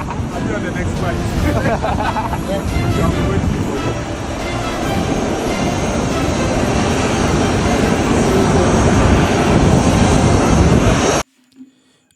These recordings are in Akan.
I'll be on the next flight.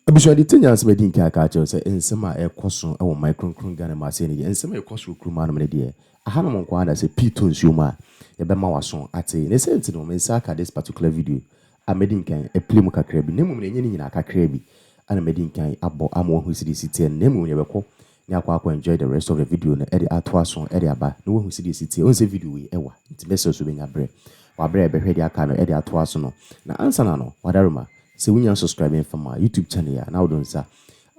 abusua de te nya nsɛm adi nka aka kyerɛ sɛ nsɛm a ɛkɔ so wɔ man kronkron Ghana mu ase ne deɛ nsɛm a ɛkɔ so wɔ kurom anom ne deɛ ahanom nko ara na sɛ pii to nsuo mu a yɛbɛma waso ate ne sɛ nti no me nsa aka this particular video a madi nkan apira mu kakra bi, na mmom nea ɛnyɛ ne nyinaa, kakra bi a na madi nkan abɔ ama wɔahu sɛdeɛ ɛsi teɛ no, na mmom yɛbɛkɔ na yɛakɔ akɔ enjoy the rest of the video no de ato aso de aba na woahu sɛdeɛ ɛsi teɛ. Wohu sɛ video wei ɛwa nti mɛsrɛ sɛ wobɛnya berɛ wɔ aberɛ a yɛbɛhwɛ deɛ aka no de ato aso no. Na ansa na no, Wadarima, sɛ wonnya nsubscribe mfa ma YouTube channel a, na wode wo nsa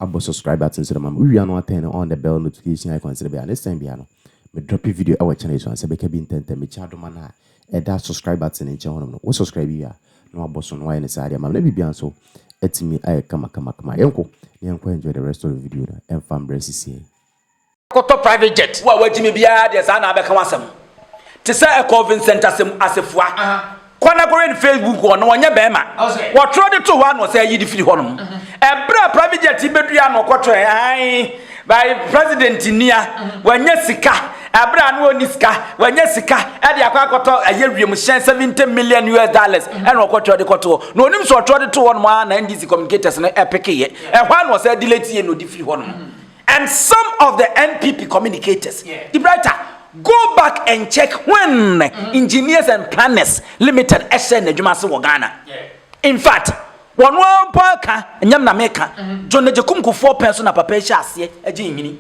abɔ subscribe button so na ma me. Wowie a na woatɛne on the bell notification icon sɛdeɛ ɛbɛyɛ a next time biara no me drop video wɔ channel yi so a, nsa bɛka bi ntɛntɛm. Mekyia adom a na ɛda subscribe button no nkyɛn hɔnom no, wo subscribe wie a na wabɔ so na wayɛ ne saa de ama me na biribiara nso atumi ayɛ kamakamakama. Yɛnkɔ na yɛnkɔ enjoy the rest of the video no ɛmfa mbrɛ sisiɛ yi. Akɔtɔ private jet. Wo a wagye me biara deɛ saa na abɛka w'asɛm. Te sɛ ɛkɔɔ Vincent Asem Asefua. Kɔ na kɔhwɛ ne Facebook hɔ na ɔnyɛ bɛɛma. Wɔtwerɛ de to hɔ a na ɔsɛ ayi de firi hɔnom. Ɛberɛ a private jet yi bɛduru a na ɔkɔtɔɛ aane. By, President Nia, Wanya sika, ɛberɛ a na ɔnni sika, wanya sika de akɔ akɔtɔ ɛyɛ wiemhyɛn 70 million US dollars ɛna ɔkɔtwerɛ de kɔto hɔ. Na ɔnim sɛ ɔtwerɛ de to hɔ nom ara na NDC communicators no ɛpekeeɛ. Ɛhɔ ara na ɔsan delete yɛ na ɔde firi hɔ nom. And some of the NPP communicators, the writer, go back and check when Engineers and Planners Limited ɛhyɛɛ n'adwuma ase wɔ Ghana. In fact, Wɔn ara mpo aka, ɛnyɛ me na meka. John Agyekum Kufuor pɛn so na papa yi hyɛɛ aseɛ gyee nhini.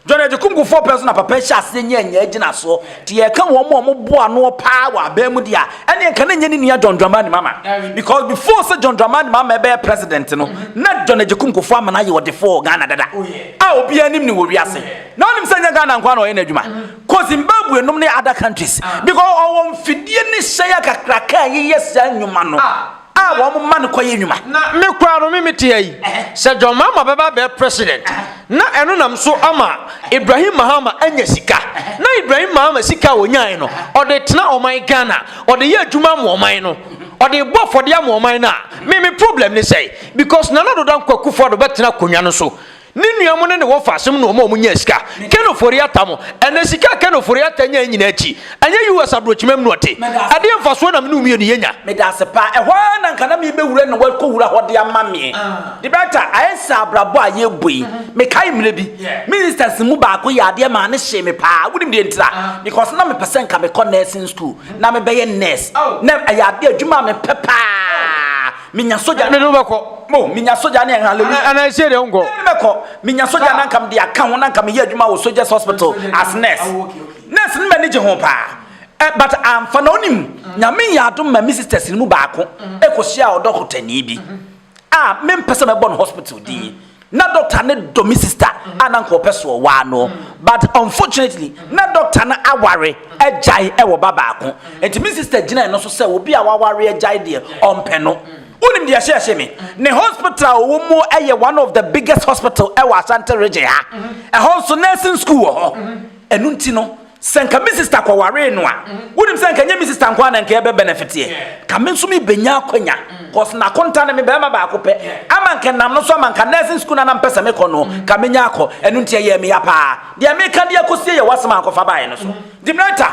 John Agyekum Kufuor pɛn so na papa yi hyɛɛ aseɛ nyaa nyaa agyinasoɔ. Nti yɛreka wɔn a wɔn boa noɔ paa wɔ abaa mu deɛ a, ɛneɛ nka na ɛnyɛ ne nua John Dramani Mama. Because before sɛ John Dramani Mama ɛbɛyɛ president no, na John Agyekum Kufuor Amana yɛ ɔdefoɔ wɔ Ghana dada. A obiara nim no wɔ wiase. Na wonim sɛ ɛnyɛ Ghana nkoa na ɔyɛ n'adwuma. Kɔ Zimbabwe nom ne other countries. Because ɔwɔ mfidie ne hyɛn akakraka a yeyɛ saa nnwuma no. a wɔn ma no kɔ yɛ nwuma. Na me koraa no me me te ha yi sɛ John Mahama bɛba abɛyɛ president na ɛno nam so ama Ibrahim Mahama anya sika na Ibrahim Mahama sika a ɔnyae no ɔde tena ɔman Ghana ɔde yɛ adwuma ama ɔman no ɔde bɔ afɔdeɛ ama ɔman no a me me problem ne sɛ because Nana Doda Nkwa Akufo-Addo bɛtena akonnwa no so Ne nua mo ne ne wɔ faasem na ɔma ɔmo nyaa sika. Ken ofori ata mo. Ɛnɛ sika a Ken ofori ata nyae nyinaa akyi, ɛnyɛ US abrokyimam na ɔte. Ɛdeɛ mfasoɔ na me ne wo mmienu yɛ nya? Meda ase paa. Ɛhɔ ara na nka na me bɛ wura na wa kɔ wura hɔ de ama me. The better, ayɛ sɛ abrabɔ a yɛ bɔ yi. Me kae mmerɛ bi, me instance mu baako yɛ adeɛ maa ne hyee me paa. Wo nim deɛ ntira? Because na me pɛ sɛ nka me kɔ nursing school na me bɛ yɛ nurse. Na ɛyɛ adeɛ adwuma a me pɛ paa. Minya sogya. Ɛne no bɛkɔ. Mo minya sogya ne ɛn hallelujah. Ɛna ɛhyɛ deɛ nkɔ. Ɛne no bɛkɔ. Minya sogya na nka mede aka ho na nka meyɛ adwuma wɔ soldiers hospital as nurse. Oh, nurse no m'ani gye ho paa. Eh, but amfa na onim. Mm. Nyame yɛ adom ma me sisters no mu baako mm. ɛkɔhyia ɔdɔkotani bi mm-hmm. a mempɛ sɛ mɛbɔ no hospital din. Mm-hmm. Na doctor no dɔ me sister a na nka ɔpɛ so ɔwaa no but unfortunately na doctor no aware agyae ɛwɔ ba baako nti me sister gyinae no so sɛ obi a waware agyae deɛ ɔmpɛ no. Wonim deɛ ɛhyɛɛ se me? Ne hospital a ɔwɔ mu ɛyɛ one of the biggest hospital ɛwɔ Asante region ha. Ɛhɔ nso nursing school wɔ hɔ. ɛno nti no sɛ nka me sista kɔwaree no a mm-hmm. wonim sɛ nka nyɛ me sista nko a na nka ɛbɛ benefiteɛ ka me nso mebɛnya akwanya mm. cause nakonta no me bɛrima baako pɛ ama nka nam no so ama nka nursing school no na mpɛ sɛ mekɔ no mm. ka menya akɔ ɛno nti ɛyɛ meya paa deɛ meka deɛ kɔsie yɛ woasɛm ankɔfa baeɛ no so mm-hmm. dimrɛta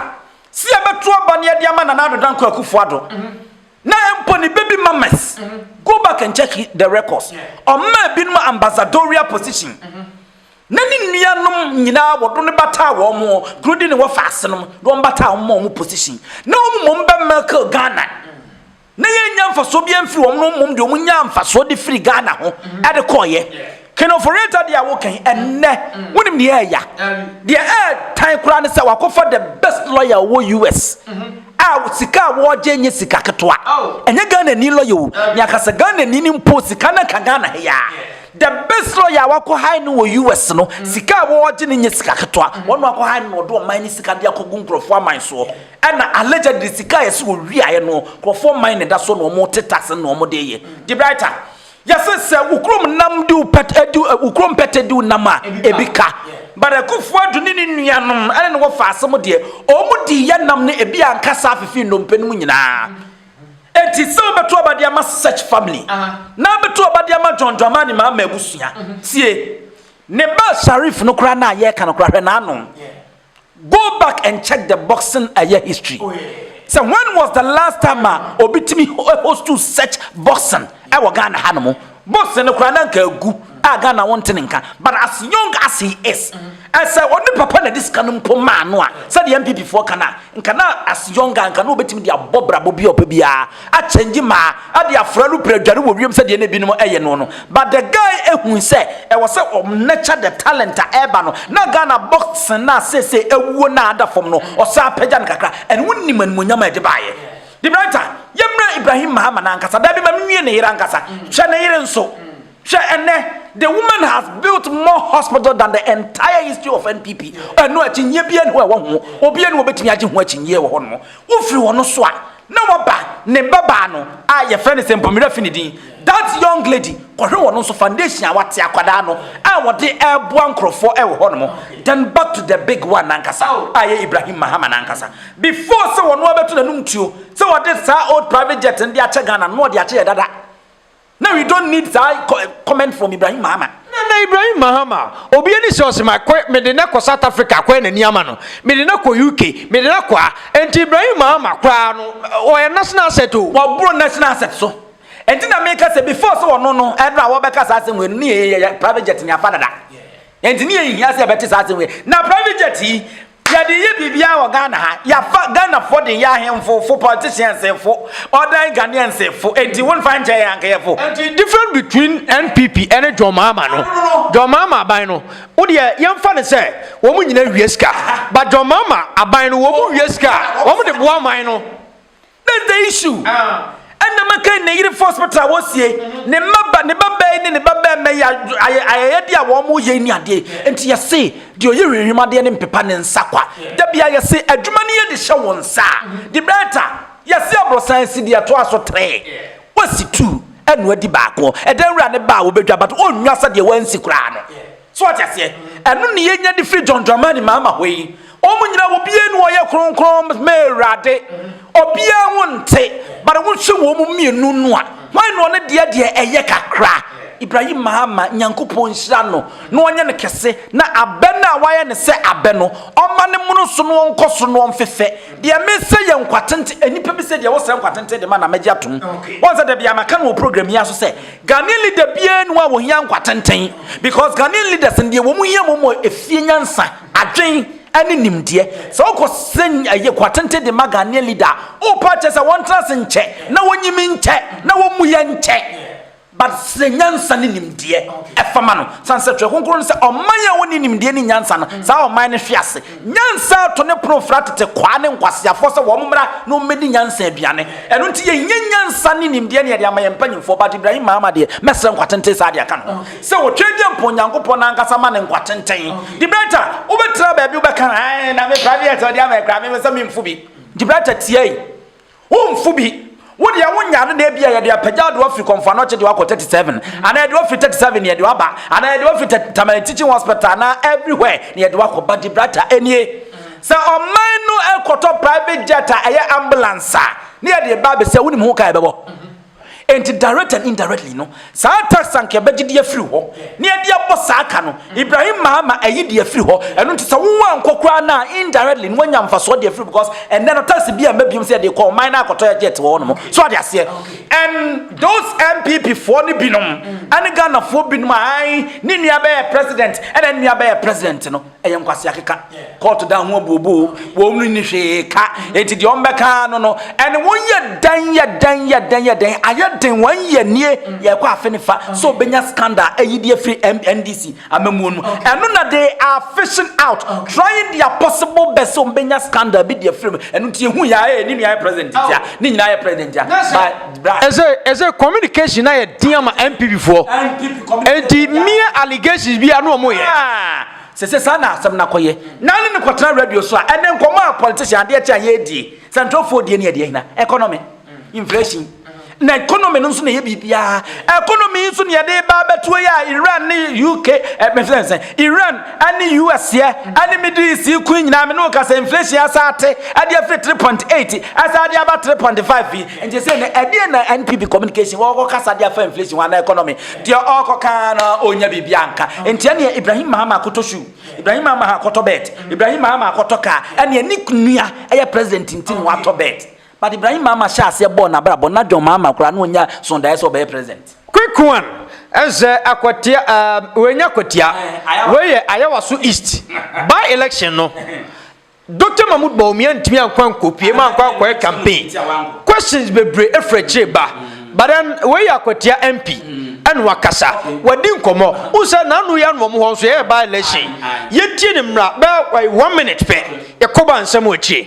si ɛbɛto aba ne ɛde ama nana adoda nkɔ akufoɔ ado mm-hmm. na mpo ne baby mamas go back and check the records ɔma binom ambassadorial position na ne nuanom nyinaa wɔdo no bataa wɔn mo kuro de ne wɔ faase nom de wɔn bataa wɔn ma wɔn position na wɔn mmom bɛ mɛkɛ Ghana na yɛn nya nfasoɔ bi mfiri wɔn no mmom de wɔn nya nfasoɔ de firi Ghana ho ɛde kɔɔyɛ kenoforeta deɛ awo kan ɛnɛ wɔn nim deɛ ɛya deɛ ɛɛtan koraa ne sɛ wakɔfa the best lawyer wɔ US a sika a wɔɔgye nye sika ketewa ɛnyɛ Ghana ni lawyer o nyakasa Ghana ni ni mpo sika na ka Ghana heyaa. The best lawyer a wakɔ high no wɔ US no, sika a wɔɔgye no nyɛ sika ketewa. Wɔn na wakɔ high no na ɔde ɔman no sika de akɔgu nkorɔfoɔ aman soɔ. Ɛna allegedly sika a yɛse ɔwiaeɛ no, nkorɔfoɔ man na ɛda soɔ na wɔn te tax no na wɔn de yɛ. Debrightah, yɛse sɛ wo kurom nam di wo pɛt, edi wo, wo kurom pɛtɛ di wo nam a, ebi ka. But Akufo Addo ne ne nuanom ɛne no wɔfaa asem deɛ, wɔn dii yɛ nam no ebi anka saa fefe nnompe nom nyinaa. Enti sɛ wobɛto aba de ama Search Family na abɛto aba de ama John Dramani Mahama abusua. Tie. Ne ba Sharif no koraa no a yɛreka no koraa hwɛ n'ano. Go back and check the boxing ɛyɛ history. Oh, yeah. So when was the last time a obi tumi hostu such boxing ɛwɔ Ghana ha no mu? Bose no koraa na nka agu a Ghana wɔn te ne nka but as young as he is ɛsɛ mm-hmm. ɔne papa na de sika no mpo maa no a sɛdeɛ MPP foɔ ka no a nka na as young a nka na wɔbɛtumi de abɔ brabɔ bi a ɔpɛ biara akyɛngye maa ade afra no pira dware wɔ wiem sɛdeɛ na ebinom ɛyɛ no no but the guy ehu sɛ ɛwɔ sɛ ɔnɛkyɛ the talent a ɛreba no na Ghana boxing na sese ewuo na ada fam no ɔsan apagya no kakra ɛne wɔn nim animonyam a ɛde baayɛ. Debrajah, Yɛmmra Ibrahim Mahama no ankasa. Dabi, ma menwie ne yere ankasa. Hwɛ ne yere nso. Hwɛ ɛnnɛ, the woman has built more hospital than the entire history of NPP. Ɛno akyinnyeɛ biara nni hɔ a ɛwɔ ho. Obiara nni hɔ a ɔbɛtumi agye ho akyinnyeɛ wɔ hɔnom. Wofiri wɔn so a, na wɔaba ne babaa no a yɛfrɛ no Sempo Mira Finidi. That young lady kɔhwɛ wɔn nso foundation a wate akwadaa no a wɔde ɛreboa nkorɔfoɔ ɛwɔ hɔ nom then back to the big one nankasa a ɛyɛ Ibrahim Mahama nankasa before sɛ wɔn a bɛto n'anum tuo sɛ wɔde saa old private jet no de akyɛ Ghana no na wɔde akyɛ yɛ dada na we don't need saa comment from Ibrahim Mahama. Na na Ibrahim Mahama obi ani sɛ ɔsɛ ma kɔ mede na kɔ South Africa akɔyɛ n'ani ama no mede na kɔ UK mede na kɔ a ɛnti Ibrahim Mahama koraa no ɔyɛ national asset o. Wɔboro national asset so. Ɛnti na meka sɛ before sɛ ɔno no ɛberɛ a wɔbɛka saa asɛm wei no ne yɛ yɛ private jet ne afa dada ɛnti ne yɛ nhia sɛ yɛbɛte saa asɛm wei na private jet yi yɛde yɛ biribiara wɔ Ghana ha yɛafa Ghanafoɔ de yɛ ahemfo fo politicians fo ɔdan Ghanaians fo ɛnti wonfa nkyɛ yɛ anka yɛ fo ɛnti different between NPP ɛne John Mahama no John Mahama aban no wodeɛ yɛmfa ne sɛ wɔn nyina wie sika but John Mahama aban no wɔn wie sika wɔn de boa man no That's the issue. Ɛna maka ne yere force pɛtɛ a wɔsie ne mmaba ne ba bɛyi ne ne ba bɛrima yi ayɛyɛde a wɔn yɛ ni adeɛ nti yɛse deɛ ɔyɛ hwehwem adeɛ ne mpepa ne nsa kwa dabia yɛse adwuma no yɛ de hyɛ wɔn nsa de bɛɛta yɛse aborosan si deɛ ɛtoa so tere wɔsi tu ɛno adi baako ɛdan wura ne ba a wɔbɛdwa but ɔnnwa sɛdeɛ wɔansi koraa no. So wate aseɛ? Ɛno ne yɛnya de firi John Dramani Mahama hɔ yi. Wɔn nyinaa obiara ni wɔyɛ kronkron mɛ awurade. Obiara ho nte. But wohwɛ wɔn mmienu no a, hwan na ɔne deɛ deɛ ɛyɛ kakra? Ibrahim Mahama, Nyankopɔn nhyira no na ɔnyɛ no kɛse na abɛ no a wayɛ no sɛ abɛ no, ɔmma no mono so na ɔnkɔ so na ɔmfefɛ. Deɛ mesɛ yɛ nkwatenten, nnipa bi sɛ deɛ wosrɛ nkwatenten de ma na magye atom. Woahu sɛ da biara maka no wɔ program yi ara so sɛ, Ghanaian leader biara ni hɔ a wɔhia nkwa tenten because Ghanaian leaders no deɛ wɔn hia mmom wɔ efie nyansa, adwen ɛne nimdeɛ. Sɛ wokɔ sɛ ɛyɛ nkwa tenten de ma Ghanaian leader a, wopɛ akyɛ sɛ wɔn tena ase nkyɛ na wɔn nyim nkyɛ na wɔn mu yɛ nkyɛ but sɛ nyansa ne nimdeɛ ɛfa ma no. Sane sɛ twerɛ kronkron no sɛ ɔman a wɔnni nimdeɛ ne nyansa no saa ɔman no hwe ase. Nyansa to ne pono fra tete kwaa ne nkwaseafoɔ sɛ wɔn mmra na wɔmmɛdi nyansa aduane. Ɛno nti yɛnyɛ nyansa ne nimdeɛ na yɛde ama yɛn mpanimfoɔ, but Ibrahim Mahama deɛ, mɛsrɛ nkwatenten saa de aka ne ho sɛ ɔtwa dwa mpo Nyankopɔn no ankasa ma no nkwatenten. Gibraltar, wobɛtra baabi wobɛka, Ae, na me private ɔde ama yi koraa, mepɛ sɛ memfo bi. Gibraltar tiae. Womfo bi. Wo deɛ wonya ade na ebia yɛde apagya de wafiri Kɔmfoano Ɔkyegye wakɔ 37 anaa yɛde wafiri 37 na yɛde waba anaa yɛde wafiri Tɛ- Tamale Teaching Hospital anaa everywhere na yɛde wakɔ but Gibraltar ɛnie sɛ ɔman no ɛkɔtɔ private jet a ɛyɛ ambulance a ne yɛde ba abɛsi a wonim ho ka a ɛbɛbɔ Enti direct and indirectly no, saa tax anka yɛbɛgye de afiri hɔ na yɛde abɔ saa ka no. Ibrahim maa ma ayi de afiri hɔ. Ɛno nti sɛ woankɔ koraa no a, indirectly no woanya mfasoɔ de afiri because ɛnnɛ no tax bi amma biom sɛ yɛde rekɔ ɔman no akɔtɔ jet wɔ hɔnom. So ate aseɛ? And those NPP foɔ no binom ne Ghanafoɔ binom a ae ne nua bɛyɛ president ɛna ne nua bɛyɛ president no, ɛyɛ nkwasi akeka kɔɔto dan ho abuobuo wɔn no ni hwee ka eti deɛ ɔmbɛka no no ɛne wɔn yɛ dan yɛ dan yɛ dan yɛ dan ayɛ den wɔn yɛ nie yɛkɔ afe ne fa so obenya scandal ɛyi deɛ firi ndc amamuo no ɛno na they are fishing out trying their possible best sɛ ɔmbɛnya scandal bi deɛ firi mu ɛno nti ehu yɛ ayɛ ne nua yɛ president tia ne nyinaa yɛ president tia Ɛsɛ ɛsɛ communication na yɛ den ama NPP foɔ. Enti mie allegations bi a na wɔn yɛ. Ah! Sɛ sɛ saa na asɛm na kɔyɛ. Na ne ne kɔtena radio so a ɛnɛ nkɔmɔ a politician adeɛ kye a yɛredie. Sɛ ntorɔfoɔ die ne ɛdeɛ hena? Economy. Inflation. Na economy no nso na ɛyɛ biribiara. Economy nso ne yɛde ba abɛtoɔ yi a Iran ne UK, eh, mefisɛ nsɛn, Iran ɛne US yɛ ɛne Middle East yi kun nyinaa me ne wo ka sɛ inflation asa ate ɛde afiri 3.8 ɛsa ɛde aba 3.5 yi nti sɛ ne ɛdeɛ na NPP communication wɔkɔ kasa de afa inflation ho ana economy deɛ ɔkɔ kaa na ɔnya biribi anka nti ɛneɛ Ibrahim Mahama akɔtɔ shoe Ibrahim Mahama akɔtɔ bed Ibrahim Mahama akɔtɔ kaa ɛneɛ ne nua ɛyɛ president nti na watɔ bed But Ibrahim Mahama hyɛɛ aseɛ bɔɔ n'abrabɔ n'adwen Mahama koraa na ɔnnya soo daeɛ sɛ ɔbɛyɛ president. Quick one ɛsɛ akwatia ɛɛm wei nyɛ akwatia wei yɛ ayawaso east by election no Doctor Mahmood Bawumia ntumi ankɔ ankɔ pie mu ankɔ ankɔyɛ campaign questions bebree efiri akyire reba but then wei yɛ akwatia MP ɛna wakasa wadi nkɔmɔ wohu sɛ n'ano yɛ ano wɔn hɔ nso yɛyɛ by election yɛtie ne mmra bɛɛ one minute pɛ yɛkɔ ba nsɛm wɔ akyire.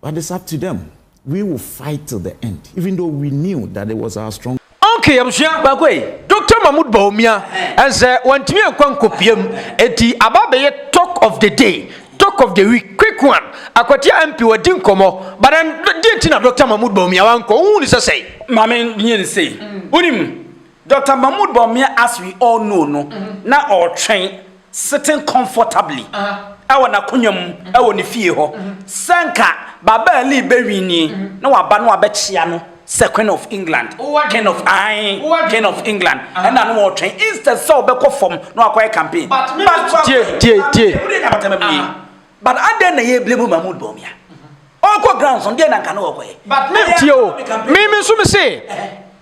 But it's up to them, we will fight till the end even though we knew that it was our strong. Okay abusua baako ei Doctor Mahmood Bawumia ɛnsɛ wantumi ankɔ ankɔpiam enti aba abɛyɛ talk of the day talk of the week quick one Akwatia MP wadi nkɔmmɔ but then deɛ nti na Doctor Mahmood Bawumia wankɔ wohu no sɛ sɛn? Maame nyɛ no sei wonim Doctor Mahmood Bawumia as we all know no na ɔretwɛn sitting comfortably wɔ n'akonnwa mu wɔ ne fie hɔ, sɛ anka Babaa Lee bɛwin nie na waba na wabɛkyea no sɛ Queen of England, King of ae, King of England, ɛna no wɔretwɛn instead sɛ ɔbɛkɔ fam na wakɔyɛ campaign. But tie, tie, tie, But adɛn na yɛ blame Mahmoud Bawumia? Ɔkɔ grounds no deɛ na nka na ɔkɔyɛ. But na Tie o, me me nso me se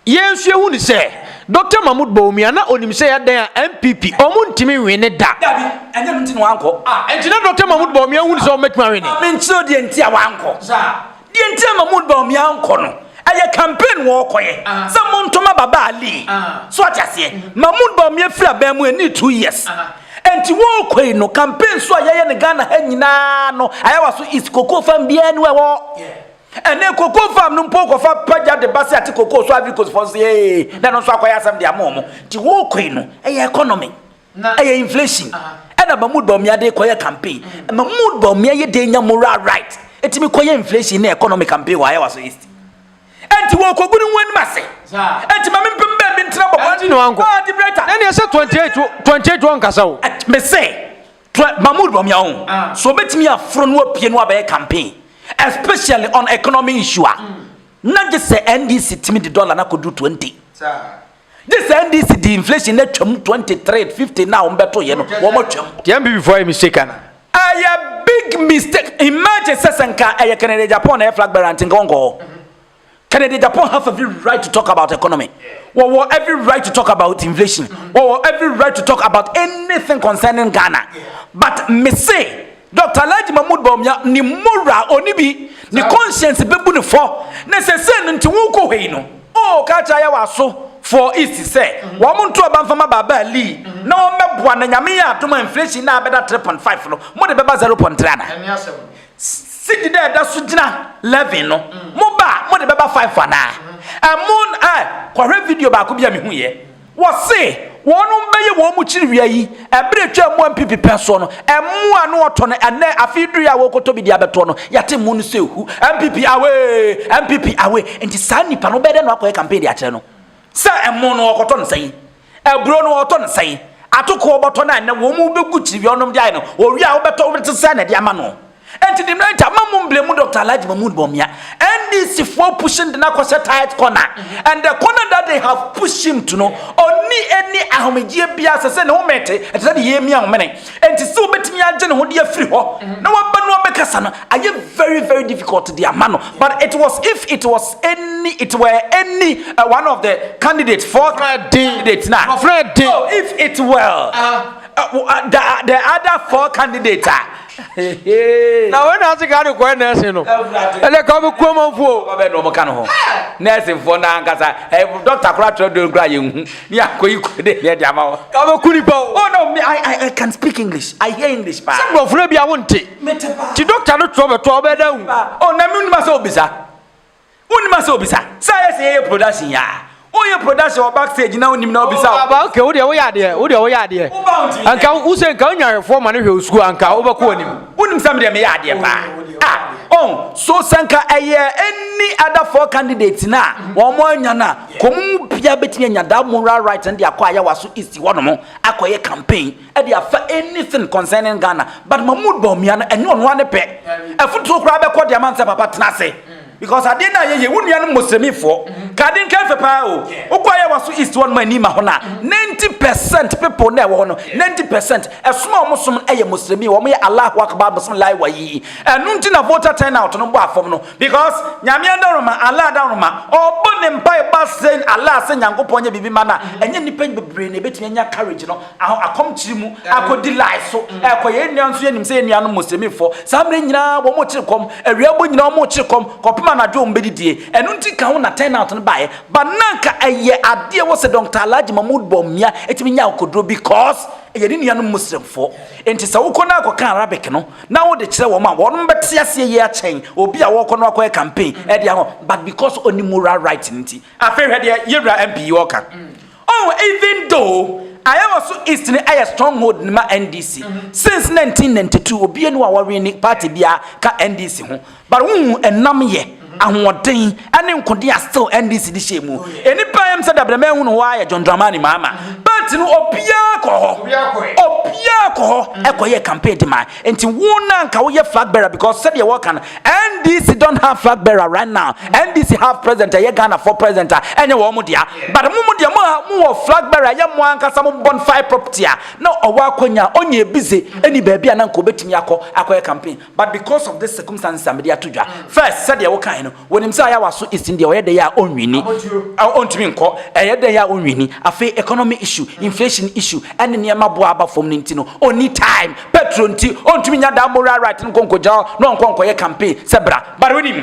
yɛn nso yɛhu ne sɛ Doctor Mahmoud Bawumia na onim sɛ yɛadan a NPP ɔmo ntumi nwe ne da. Dabi, ɛnyɛ no nti na wankɔ. Ah, ɛnti na Doctor Mahmoud Bawumia hu ne sɛ ɔmo mɛtumi awe ne. Ma me nkyerɛ deɛ nti a wankɔ. Saa. Deɛ nti a ma mo baomi ankɔ no ɛyɛ campaign wɔ ɔkɔ yɛ sɛ mo ntɔ ma baba ali so ate aseɛ ma mo baomi afiri abɛn mo ɛni two years ɛnti wɔ ɔkɔ yi no campaign so a yɛyɛ no Ghana ha nyinaa no ayawa so is koko fam biara ni ɛwɔ ɛnɛ koko fam no mpo kɔfa pagya de ba se ate koko so agri kosifɔ nso yɛ na no nso akɔyɛ asɛm de ama ɔmo ti wɔ ɔkɔ yi no ɛyɛ economy Na ɛyɛ inflation ɛna ma mood bɔmmea de kɔyɛ campaign ma mood bɔmmea yɛ den nya moral right ɛtumi kɔyɛ inflation ne economic campaign wɔ ayɛwa so east ɛnti wɔ kɔgu no wɔn ase ɛnti ma me mpem bɛn bi ntena bɔbɔ ɛnti na wankɔ ah di brɛta na ne ɛsɛ 28 28 wɔn kasa o me se ma mood bɔmmea ho ah. so obetumi aforo no apue no abɛyɛ campaign especially on economy issue a na gye sɛ ndc tumi de dollar na kɔdu 20 saa Gye sɛ NDC di inflation na twam 23 50 na wɔn bɛto yɛ no wɔn twam. Deɛ NPP fo ayɛ mistake ana. Ɛyɛ big mistake imagine sɛ sɛ nka ɛyɛ Kennedy Agyapong na ɛyɛ flag bearer nti nka wɔn kɔ hɔ. Kennedy Agyapong have every right to talk about economy. Wɔwɔ every right to talk about inflation. Wɔwɔ every right to talk about anything concerning Ghana. But me say Dɔkta Alhaji Mahmood Bawumia ne mmɔwura a ɔnni bi, ne conscience bɛbu no fɔ, na sɛsɛɛ no nti worekɔ hɔ yi no, oo ka kyerɛ Ayawaso foɔ East sɛ wɔn nto aba mfa ma Baaba Ali na wɔn bɛboa na Nyame yɛ adom a inflation no a ɛbɛda 3.5 no mo de bɛba 0.3 anaa? Cedi dɛ ɛda so gyina 11 no mo ba a mo de bɛba 5 anaa? Ɛmo eh kɔhwɛ video baako bi a mehu yɛ. Wɔse wɔnom bɛyɛ wɔn mu kyiri wia yi ɛberɛ ɛtwaa mu a mpp pɛn soɔ no ɛmmoa ano ɔtɔ no ɛnnɛ afei duruiɛ a wɔrekɔtɔ bi de abɛtoɔ no yɛate mmo no sɛ hu mpp away mpp away nti saa nnipa no wobɛyɛ dɛn na wakɔyɛ campaign de akyerɛ no sɛ mmo no ɔkɔtɔ no sɛn aburo no ɔtɔ no sɛn atoko ɔbɔtɔ no a ɛnnɛ wɔn mu bɛgu kyiri wia ɔnom de ayɛ no ɔwie a wobɛtɔ wobɛte sɛ na ɛde ama no Enti de no agya ma mo mblemu Doctor Alhaji Mahmood Bawumia NDC foɔ push no de no akɔhyɛ tight corner and the corner that they have push him to no ɔnni ɛnni ahomegyeɛ biara sɛsɛ ne ho mɛte ɛte sɛ deɛ yɛmia homene enti sɛ ɔbɛtumi agye ne ho de afiri hɔ na waba no abɛkasa no ayɛ very very difficult de ama no but it was if it was any it were any uh, one of the candidate for candidate na so if it were uh, uh, the, the other four candidates uh, na wei na ase ghana kɔɛ nɛɛse no ɛnɛ ka bi kurom mfoɔ ɔbɛ na ɔmo ka no ho nɛɛse mfoɔ na ankasa ɛ dɔkta kora kyerɛ dɔn kora yɛ nhu ne akɔ yi kɔ de yɛ de ama wɔ ka bɛ ku nipa o oh no me I, I, I can speak english i hear english paa sɛ nkurɔfoɔ bi a wonte ti dɔkta no kyerɛ ɔbɛtɔ ɔbɛ da hu oh na mi nima sɛ obisa Wonnim a sɛ obisa. Sɛ ayɛ sɛ yɛyɛ production yi aa. Woyɛ production wɔ back stage na wonnim na obisa wo. Aba okay wodeɛ woyɛ adeɛ wodeɛ woyɛ adeɛ. Woba wontumi nyɛ. Nka wose nka wonya awɛfoɔ ma no hwɛ wo sukuu anka wobɛkɔ anim. Wonim sɛ medeɛ meyɛ adeɛ paa ah oh. So sɛ nka ɛyɛ any other four candidates no a wɔn anya no a nka wɔn mu biara bɛtumi anya that moral right no de akɔ Ayawaso East hɔnom akɔyɛ campaign. ɛde afa anything concerning Ghana but Mahmood Bawumia no ɛnyɛ ɔno ara ne pɛ afuturo koraa bɛkɔ de ama nsɛ papa tena ase because adeɛ no a yɛyɛ wo nua no mosremifoɔ kade nkɛfɛ paa o wokɔ ayɛ waso east hɔ no ma ani ma hɔ no a 90 percent people na ɛwɔ hɔ no 90 percent ɛsom a wɔn som ɛyɛ mosremi wɔn yɛ Allahu Akbar bosom lai wa yi ɛno nti na voter turnout no bɔ afam no because nyame adaroma Allah adaroma ɔbɔ ne mpa ɛba sɛ Allah sɛ nyankopɔn nyɛ biribi ma no a ɛnyɛ nnipa bebree na ɛbɛtumi anya courage no Aho akɔm kyiri mu akɔ di lie so ɛkɔ yɛn nua nso yɛ nim sɛ yɛn nua no muslimi fɔ saa mmerɛ nyinaa wɔn kyiri kɔm awia bɔ nyinaa wɔn kyiri kɔm kɔpem anadwo wɔn bɛdi die ɛno nti ka ho na turn out no baeɛ ba nanka ɛyɛ adeɛ wɔ sɛ dɔnkta alagye mahmood bɔ mmea ɛtumi nya akoduro bi cause ɛyɛ ne nua no muslim fɔ nti sɛ wokɔ no akɔ ka arabic no na wode kyerɛ wɔn a wɔn bɛte aseɛ yie akyɛn obi a wɔkɔ no akɔ yɛ campaign ɛde aho but because ɔni moral right nti afei hwɛ deɛ yɛwura mp yi ɔka Oh even though Ayawaso East no yɛ stronghold no ma NDC since nineteen ninety two obia ni wa wɔwene party bia ka NDC ho but wohu ɛnam yɛ ahoɔden ɛne nkode a still NDC de hyɛ mu ɛni paa yam sɛ dabrɛ mɛ hunu hɔ ara yɛ John Dramani Mahama party no obia kɔ hɔ obia kɔ hɔ ɛkɔ yɛ campaign de ma Nti wo na nka woyɛ flag bearer because sɛdeɛ wɔka no NDC don't have flag bearer right now NDC have president ɛyɛ Ghana for president a ɛnyɛ wɔn mo dea but mo mo deɛ mo ha mo wɔ flag bearer ɛyɛ mo ankasa mo bɔn five property a na ɔwɔ akwanya ɔnyɛ ebize ɛni baabi a na nka obetumi akɔ akɔyɛ campaign but because of this circumstances a mede ato dwa first sɛdeɛ wokae no Wɔnim sɛ ayawaso isin deɛ ɔyɛ dɛn a ɔnwini, ɔntumi nkɔ, ɛyɛ dɛn a ɔnwini. Afei economy issue, inflation issue, ɛne nneɛma bo a aba fam no nti no, ɔnni time. Petro nti, ɔntumi nya daa moral right no nkɔ nkɔgyina hɔ na ɔnkɔ nkɔyɛ campaign sɛ bra. But wonim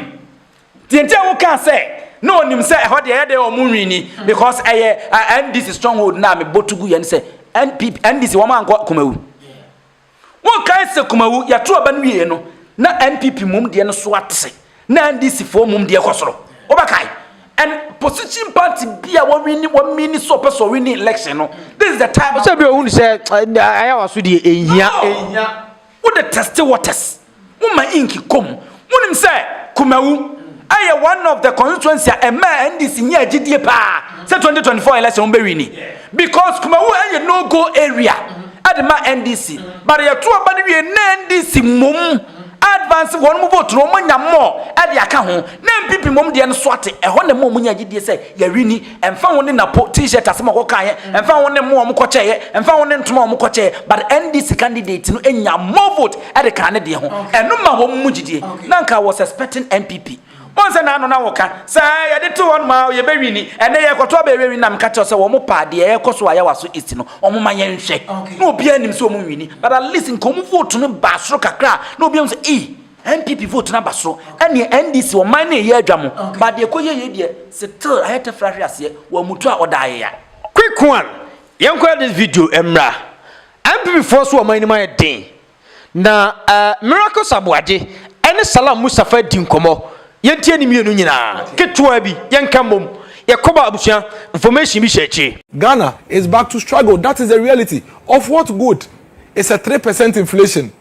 deɛ nti a wokaa sɛ na ɔnim sɛ ɛhɔ deɛ ɛyɛ dɛn a ɔnwini? Because ɛyɛ NDC stronghold no a mebɔ to gu yɛ ne sɛ NPP, NDC wɔn ankɔ Kumawu. Monkae sɛ Kumawu, yɛto aba no wieeɛ no, na NPP mmom deɛ no so ate sɛ, na NDC foɔ mmom deɛ kɔ soro. Wobɛkae? And position party bi a wɔwini, wɔmini sɛ ɔpɛ sɛ ɔwini election no, this is the time. Sɛ bi a ɔhunu sɛ ayɛ w'asodie, ɛnhia, ɛnhia. Wode teste waters. Woma ink kɔ mu. Wonim sɛ Kumawu ɛyɛ one of the constituency a ɛmaa NDC nyaa gyidie paa sɛ 2024 election wɔn bɛ wini because Kumawu ɛyɛ no go area ɛde ma NDC but yɛto aba no wie na NDC mmom advance wɔn mo vote no wɔn nya more ɛde aka ho na NPP mmom deɛ no so ate ɛhɔ na ɛma wɔn nyaa gyidie sɛ yɛawini ɛmfa ho ne napo t-shirt asɛm a wɔkɔkaeɛ ɛmfa ho ne mmoa a wɔkɔkyɛeɛ ɛmfa ho ne ntoma a wɔkɔkyɛeɛ but ndc candidate no nya more vote ɛde kaa ne deɛ ho ɛno ma wɔn mu gyidie na nka was expecting npp wɔn sɛ n'ano na wɔka sɛ yɛde to hɔ ma yɛbɛwi ni ɛnɛ yɛkɔto abɛɛrɛ wi nam ka kyerɛ sɛ wɔn paa deɛ ɛkɔ so ayɛ waso east no wɔn ma yɛn hwɛ na obiara nim sɛ wɔn nwini but at least nka wɔn vote no baa soro kakra na obiara sɛ ee. NPP vote no aba soro ɛneɛ NDC ɔman no ɛyɛ adwa mo but deɛ ɛkɔ yie yie deɛ still ayɛ tɛfra ahwe aseɛ wɔ amutu a ɔda ayeya. Quick one yɛnkɔyɛ this video mmra NPP foɔ so ɔman no mu ayɛ den na eh Miracles Aboagye ɛne Salam Mustafa adi nkɔmɔ yɛntie ne mmienu nyinaa ketewa bi yɛnka mmom yɛkɔbɔ abusua information bi hyɛ akyire. Ghana is back to struggle that is the reality of what good is a three percent inflation.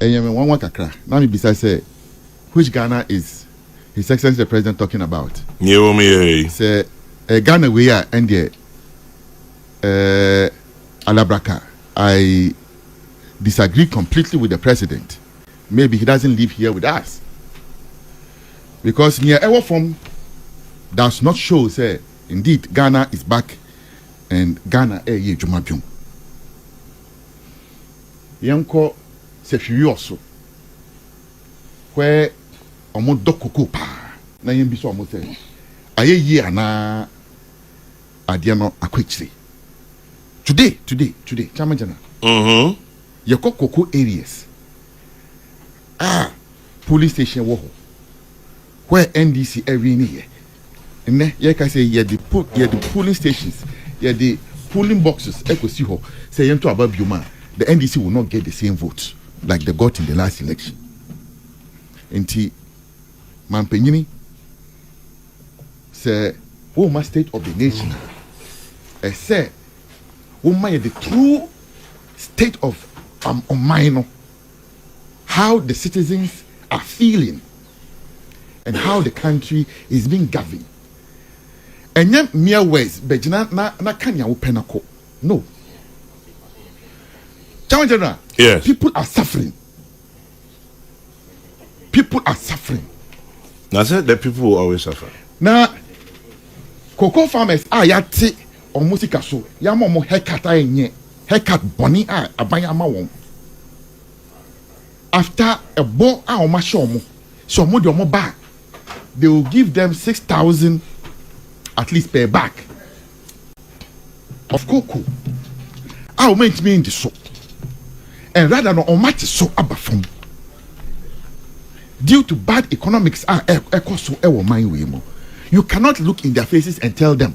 Ɛyɛ me nwanwa kakra na me bisa sɛ which Ghana is His Excellency the President talking about? Nea ɛwɔ mu yɛrɛ yi. Sɛ ɛyɛ Ghana wei a ɛndeɛ eh, Alabraka I disagree completely with the President. Maybe he doesn't live here with us. Because nea ɛwɔ fam does not show sɛ indeed Ghana is back and Ghana ɛyɛ adwuma biom. Yɛnkɔ Sefwiɔ so, where wɔdɔ cocoa paa. Na yɛmmisa wɔn sɛ, Ayɛ yie anaa adeɛ no akɔ akyire? Today, today, today, Chamajana, yɛkɔ cocoa areas a polling station wɔ hɔ. where NDC ɛwini yɛ nnɛ yɛkasa yi yɛde yɛde polling stations yɛde polling boxes ɛkɔsi hɔ sɛ yɛnto aba biom a the NDC will not get the same vote like they got in the last election nti mampanyini sɛ woma state of the nation a ɛsɛ woma yɛde true state of um, ɔman no how the citizens are feeling and how the country is being governed ɛnyɛ mere words bɛgyina na na ka nea wopɛ na kɔ no town general yes. people are suffering people are suffering na sɛ the people will always suffer na cocoa farmers a yɛate Wɔn sika so yɛama wɔn haircut a ɛnyɛ haircut bɔne a aban ama wɔn after ɛbɔ a wɔn ahyɛ wɔn sɛ wɔn de wɔn ba a they will give them six thousand at least per bag of cocoa a wɔn antumi ndi so and rather no wɔn ate so aba fam due to bad economics a ɛkɔ so ɛwɔ man wei mu you cannot look in their faces and tell them.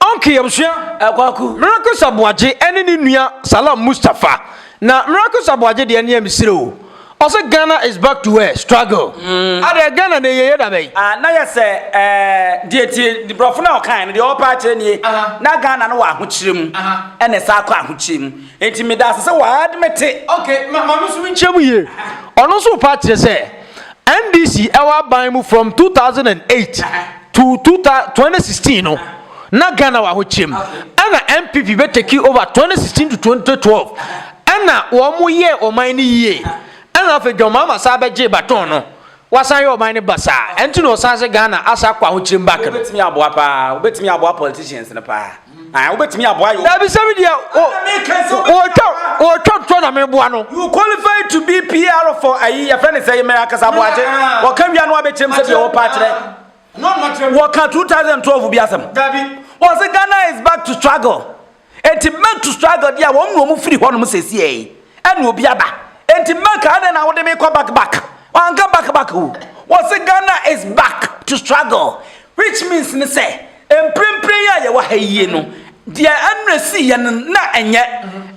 Ɔnke Yɛbusua, Kwaku Miracles Aboagye ɛne ne nua Salam Mustapha na Miracles Aboagye deɛ neɛ mesrɛ oo ɔse Ghana is back to where struggle adɛɛ Ghana na ɛyɛyɛ dabɛn. Ah na yɛ sɛ ɛɛ deɛ nti brɔfo no a ɔkaeɛ no deɛ ɔrepɛ akyerɛ nie na Ghana no wɔ ahokyerɛ mu ɛna ɛsan akɔ ahokyerɛ mu nti meda ase sɛ wa admete. Ok ma ma me nso menkyerɛ mu yie ɔno nso repɛ akyerɛ sɛ NDC ɛwɔ aban mu from two thousand and eight. To two thousand twenty sixteen no na Ghana wɔ ahokyerɛm ɛna NPP bɛ take over twenty sixteen to twenty twelve ɛna wɔn mo yɛ ɔman no yie ɛna afei John Mahama saa bɛ gye baton no wasan yɛ ɔman no basaa ɛnti na ɔsan sɛ Ghana asa akɔ ahokyerɛm back no. Wobɛtumi aboa paa wobɛtumi aboa politicians no paa. Ah, wobɛtumi aboa yo. Dabi sɛ me deɛ wɔtwa ntɔ na meboa no. You qualify to be PR for ayi yɛfrɛ ne sɛ yɛ mɛyɛ akasa aboagye. Wɔka wia no abɛkyerɛm sɛ deɛ wɔpa akyerɛ. Wɔka 2012 bi asɛm. Wɔse Ghana is back to struggle. Enti back to struggle deɛ wɔn na wɔn firi hɔnom sɛsiɛ yi. Ɛna obi aba. Enti back adɛn na wode me kɔ back back. Wanka back back o. Wɔse Ghana is back to struggle. Which means ne sɛ, mprempren yi a yɛwɔ ha yie no, deɛ ɛmmerɛ sii yɛ no na ɛnyɛ,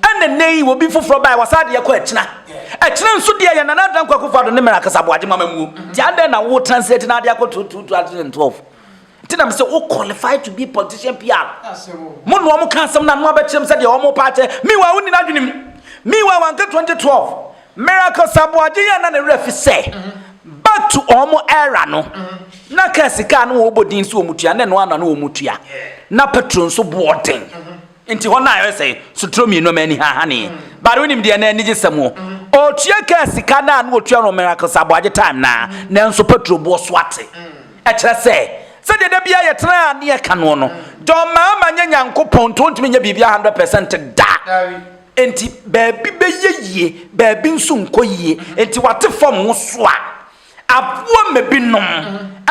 ɛna nnɛ yi obi foforɔ baeɛ wasaa deɛ kɔ akyina. Akyina nso deɛ yɛ Nana Dankwa Akufo-Addo ne Mary Akasa Boagye mama muo. Nti adɛn na wo translate na adeɛ akɔ to 2012? Nti na mesɛ wo qualify to be politician PR. Mo na wɔn ka asɛm na mo abɛkyerɛ me sɛ deɛ wɔn pa akyɛ. Meanwhile wo nni n'adwene mu. Meanwhile wanka 2012. Miracles Aboagye yɛ na ne werɛ fi sɛ back to wɔn era no na kaa sika a na wɔbɔ din sɛ wɔtua na ɛno ano na wɔtua na petro nso boɔ den nti hɔ no a ɛsɛ sotoro mmienu ma ani hahaneɛ bare wonim deɛ na anigye sɛm o ɔtua kaa sika no a na wɔtua no Miracles Aboagye time no a nanso petro boɔ so ate ɛkyerɛ sɛ sɛdeɛ da biara yɛtena a ne yɛka noɔ no dɔmmaa ma nyɛ nyankopɔn nti ɔntumi nyɛ biribi 100 percent da Enti baabi bɛyɛ yie, baabi nso nkɔ yie. Enti wate fam woso a, aboa ma binom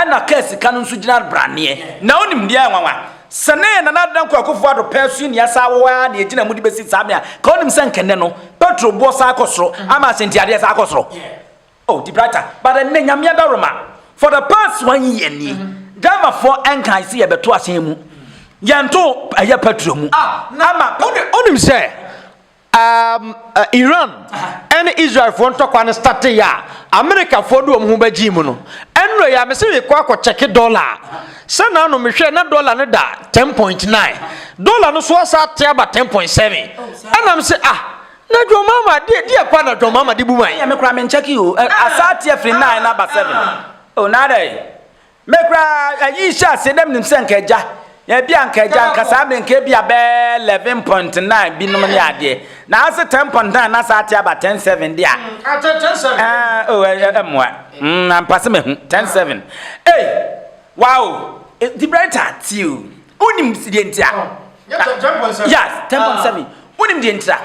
na kaa sika no nso gyina braneɛ. Na wonim deɛ nwanwa? Sɛ ne Nana Adena Kɔ Akufo Addo pɛɛ so nni asaa wɔ hɔ ara na yɛgyina mu de bɛsi saa me a, ka wonim sɛ anka nnɛ no, petrol boɔ saa kɔ soro ama asɛntiadeɛ saa kɔ soro? Oh di brighter but ɛnɛ nyame adaroma for the past one year nie mm-hmm. driver for ɛnkan si yɛbɛto ahyɛn mu yɛnto ɛyɛ petrol mu ah, ama onim sɛ um, uh, iran ɛne israelfoɔ ntɔkwa no starteɛ a amerikafoɔ de wɔn ho bɛgyee mu no ɛnura yɛ amese mekɔ akɔkyɛke dɔla sɛ na ano mehwɛ na dɔla no da 10.9 dɔla no so asa ate aba 10.7 ɛnam sɛ ah Na John Mahama de deɛ pa na John Mahama de bu man. Ɛyɛ me kura me nkyɛ ki o. Asa ateɛ firi nine na ba seven. O na dɛ. Me kura ayi hyɛ aseɛ dɛm nim sɛ nka gya. Ebi a nka gya nka saa mmerɛ nka ebi a bɛɛ eleven point nine bi nom ne adeɛ. Na ase ten point nine na saa ateɛ aba ten seven de a. Ɛɛ o ɛɛ mmoa. Mm ampase me ho ten seven. Ee wow. Di brighter ti o. Wonim deɛ nti a. Yes, tɛmpɔ nsɛm yi. Wonim deɛ nti a.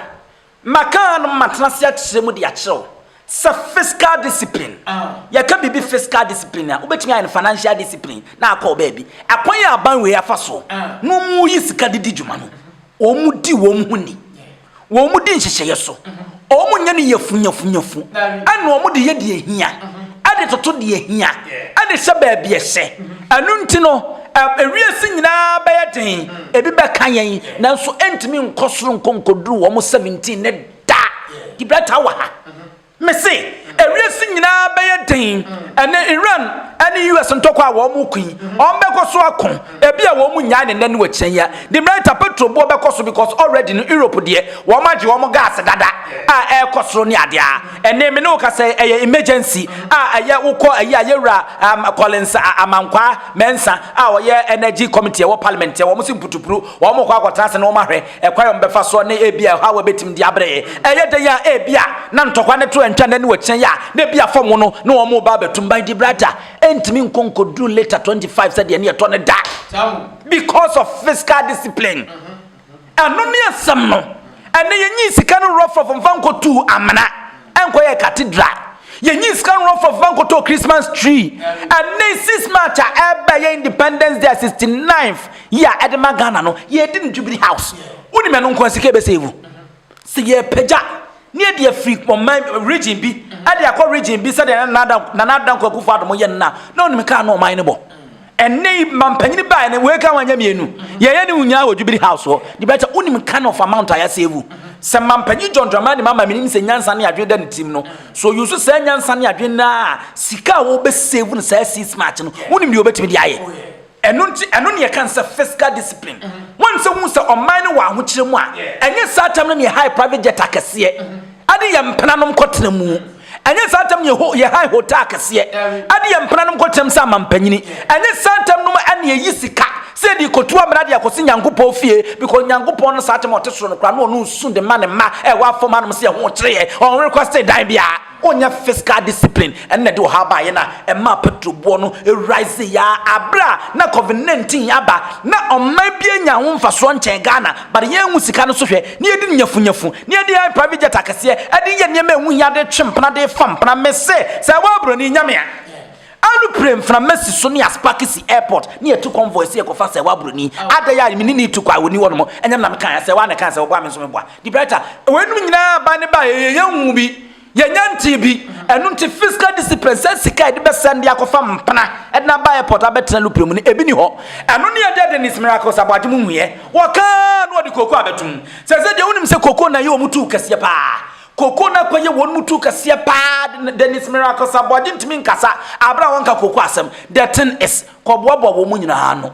Makaa no matena ase akyerɛ mu de akyerɛ wo sɛ fiscal discipline. Yɛka biribi fiscal discipline a, wobɛtumi ayɛ no financial discipline na akɔ baabi. Akwan a aban wei afa so na wɔyi sika de di dwuma no, wɔdi wɔn ho ni. Wɔn di nhyehyɛeɛ so. Wɔn nyɛ no yafunyafunyafu. Ɛna wɔn de yɛ deɛ ehia. Ɛde toto deɛ ehia. Ɛde hyɛ baabi ɛhyɛ. Ɛno nti no, ewiase nyinaa bɛyɛ den. Ebi bɛka yɛn, nanso ɛntumi nkɔ soro nkɔ nkɔduru wɔn 17 ne da. Gibraltar wɔ ha. Mise, ewiase nyinaa bɛyɛ den ɛne Iran ɛne US ntɔkwa a wɔn ko yi, wɔn bɛkɔ so ako, ebi a wɔn nnyae ne nnɛ ne wakyina yi a, Demerita petrol boɔ bɛkɔ so because already no Europe deɛ wɔn agye wɔn gas dada a ɛrekɔ soro ne adeɛ a, ɛnne me ne wo kasa yi ɛyɛ emergency a ɛyɛ wo kɔ ayi a yɛwura um, Collins Amankwaa Mensah a ɔyɛ energy committee ɛwɔ parliament wɔn se mputupuru wɔn kɔ akɔtena ase na wɔn ahwɛ Ɛkwan a wɔbɛfa so ne ebia ɛhaw a ebetumi de abrɛ yɛn. Ɛyɛ dɛn a ebia na ntɔkwa ne to antwa n'ani wɔ kyinɛ yi a na ebia fam no na wɔreba abɛtum ban de brada ntumi nkɔ nkodu liter 25 sɛdeɛ ne yɛtɔ no da because of fiscal discipline. Ɛno ne asɛm no. Ɛnɛ yɛnyi sika no rɔfrɔfo mfa nkɔtuu amena. Ɛnkɔ yɛ cathedral. Yɛnyi sika no wrɔfɔ fa nkɔtɔ Christmas tree. Ɛnɛ yi six March a ɛɛba yɛ independence day a sixty ninth yi a ɛde ma Ghana no, yɛɛdi no Jubilee House. Wonim ɛno nko a sika ɛbɛ save. Sɛ yɛɛpagya ne yɛde afiri ɔman region bi ɛde akɔ region bi sɛdeɛ Nana Addo Nana Dankwa Akufo Addo mo yɛ no no a, na onim kaa no ɔman no bɔ. ɛnɛ yi mampanyin baa no wei ka wanya mmienu yɛyɛ ne nyinaa wɔ jubilee house hɔ de bɛkyɛ wonim kind of amount a yɛasɛvu sɛ mampanyin john drama ne mama menim sɛ nyansa ne adwene da ne tirim no so yusu saa nyansa ne adwene no a sika a wɔbɛsɛvu no saa six march no wonim deɛ wɔbɛtumi de ayɛ ɛno nti ɛno ne yɛka sɛ fiscal discipline wɔn sɛ hu sɛ ɔman no wɔ ahokyerɛ mu a ɛnyɛ saa tam no ne yɛ high private jet akɛseɛ ade yɛ mpenanom kɔtena mu Ɛnyɛ saa ntɛm na yɛhan hotaa akɛseɛ de yɛn mpenanom kɔtenam sɛ amampanyini. Ɛnyɛ saa ntɛm nom na yɛyi sika sɛ yɛde rekɔtu amena de akɔsi Nyankopɔn fie, because Nyankopɔn no saa ntɛm a ɔte soro no koraa na ɔno nsu de ma ne mma a ɛwɔ afam hanom sɛ yɛho kyere yɛn, ɔnwere kwasee dan biara. Ɔnyɛ fiscal discipline na ɛde ɔhaw baa yɛn a ɛmaa petrol boɔ no riseeɛ ara berɛ a na Covid-19 aba na ɔman biara nnya ho mfasoɔ nkyɛn Ghana. But yɛnhu sika no so hwɛ na yɛdi no nyafunyafu na yɛde yɛn private jet akɛseɛ de yɛ nneɛma a ɛho hia de twe mpena de fa mpena mese sɛ ɛwɔ aburoni nyame a aeroplane mframa si so ne yɛasparke si airport ne yɛtu convoy sɛ yɛkɔfa sɛ ɛwɔ aburoni adɛn a mene ne tu kɔ a wɔni hɔ nom ɛnyɛ me na mekaeɛ sɛ ɛwɔ a na ɛkae sɛ wɔboa me nso meboa de brighter wɔanom nyinaa ba ne ba yɛyɛ yɛnhu bi Yɛnnya ntee bi. Ɛno nti physical discipline, sɛ sika a yɛde bɛsɛn de akɔfa mpena de no aba airport abɛtena lupre mu no, ebi nni hɔ. Ɛno ne Agya Dennis Miracles Aboagye mo nhuiɛ. Wɔkaa na wɔde cocoa abɛto mu. Seesei deɛ wonim sɛ cocoa na ɛyɛ wɔn tuo kɛseɛ paa. Cocoa no akɔyɛ wɔn tuo kɛseɛ paa. Dennis Miracles Aboagye ntumi nkasa bere a wɔnka cocoa asɛm. The thing is, kɔboaboa wɔn nyinaa ano.